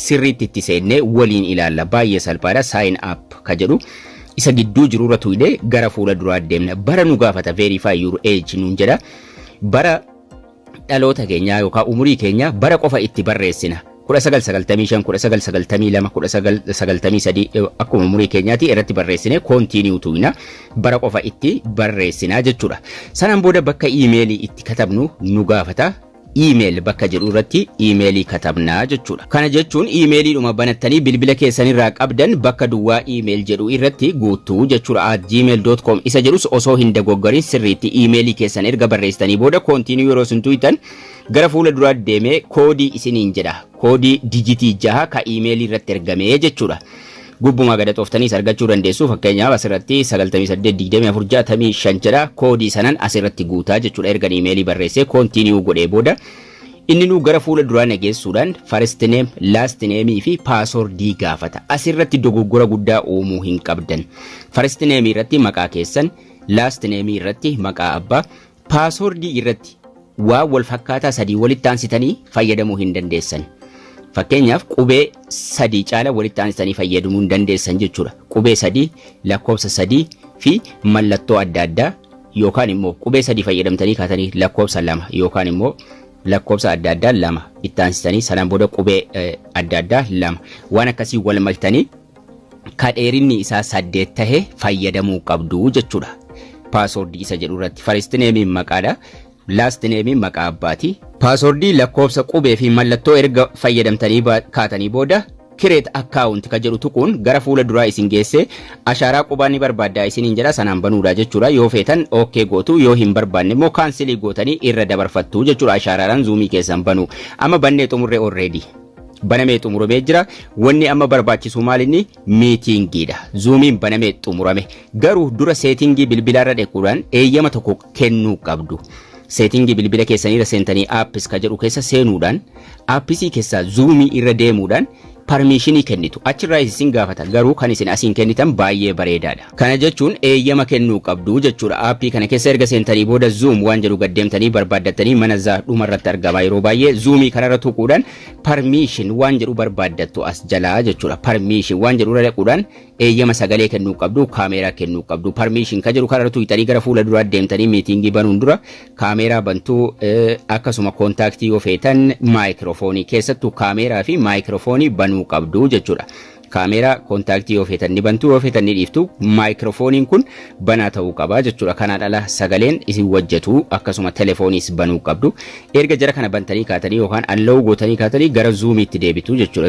sirriitti itti seennee waliin ilaalla. Baay'ee salphaadha. Sign up ka jedhu isa gidduu jirurra tuqnee gara fuula duraa deemna. Bara nu gaafata verify your age nuun jedha. Bara dhaloota keenyaa yookaan umurii keenyaa bara qofa itti barreessina. 1995, 1992, 1993 akkuma umurii keenyaati irratti barreessine continue tuqna. Bara qofa itti barreessina jechuudha. Sanaan booda bakka iimeelii itti katabnu nu gaafata. email bakka jedhu irratti emailii katabna jechuudha. Kana jechuun emailiidhuma banattanii bilbila keessan irraa qabdan bakka duwwaa email jedhu irratti guuttu jechuudha. at gmail.com isa jedhus osoo hin dogoggorin sirriitti emailii keessan erga barreessitanii booda continue yeroo isin tuqxan gara fuula duraa deemee koodii isiniin jedha. Koodii dijitii jaha ka emailii irratti ergamee jechuudha. Gubbuma gad haxooftaniis argachuu dandeessu. Fakkeenyaaf asirratti 982465 jedha. Koodii sanan asirratti guutaa jechuudha. Ergan imeelii barreessee continue godhee booda inni nuu gara fuula duraa na geessuudhaan first name, last name fi password gaafata. Asirratti dogoggora guddaa uumuu hin qabdan. First name irratti maqaa keessan, last name irratti maqaa abbaa, Paaswordii irratti waan wal fakkaataa sadii walitti aansitanii fayyadamuu hin dandeessan. Fakkeenyaaf qubee sadii caala walitti aansitanii fayyadamuu hin dandeessan jechuudha. Qubee sadii, lakkoofsa sadii fi mallattoo adda addaa yookaan immoo qubee sadii fayyadamtanii kaatanii lakkoofsa lama yookaan immoo lakkoofsa adda addaa lama itti aansitanii sanaan booda qubee adda addaa lama waan akkasii wal maktanii ka dheerinni isaa saddeet tahe fayyadamuu qabdu jechuudha. Paaswordii isa jedhu irratti first name maqaadha. Last name maqaa abbaati. Paaswordii lakkoofsa qubee fi mallattoo erga fayyadamtanii ba- kaatanii booda create account ka jedhu tuquun gara fuula duraa isin geessee ashaaraa qubaa ni barbaaddaa isiniin jedha sanaan banuudha jechuudha yoo feetan ok gootu yoo hin barbaanne immoo kaansilii gootanii irra dabarfattu jechuudha ashaaraadhaan zuumii keessan banuu amma bannee xumurre already. banamee xumuramee jira. Wanni amma barbaachisu maal inni miitiingiidha. Zuumiin banamee xumurame. Garuu dura seetingii bilbilaarra dhequudhaan eeyyama tokko kennuu qabdu. Seetingii bilbila keessaniirra seentanii aappis ka jedhu keessa seenuudhaan aappisii keessaa zuumii irra deemuudhaan parmiishinii kennitu. Achirraa isin gaafata. Garuu kan isin asiin kennitan baay'ee bareedaadha. Kana jechuun eeyyama kennuu qabdu jechuudha. Aappii kana keessa erga seentanii booda Zoom waan jedhu gad deemtanii barbaaddattanii mana zaa dhuma irratti argama yeroo baay'ee Zoomii kanarra tuquudhaan permission waan jedhu barbaaddattu as jalaa jechuudha. Permission waan jedhu irra dhaquudhaan eeyyama sagalee kennuu qabdu kaameeraa kennuu qabdu permission kan jedhu kanarra tuqxanii gara fuula duraa deemtanii miitingii banuun dura kaameeraa bantuu eh, akkasuma kontaaktii yoo feetan maayikiroofoonii keessattuu kaameeraa fi maayikiroofoonii banuu qabdu jechuudha. Kaameeraa kontaaktii yoo feetan ni bantu yoo feetan ni dhiiftu maayikiroofooniin kun banaa ta'uu qaba jechuudha. Kanaan ala sagaleen isin wajjatu akkasuma telefooniis banuu qabdu. Erga jara kana bantanii kaatanii yookaan alla'uu gootanii kaatanii gara zuumiitti deebitu jechuudha.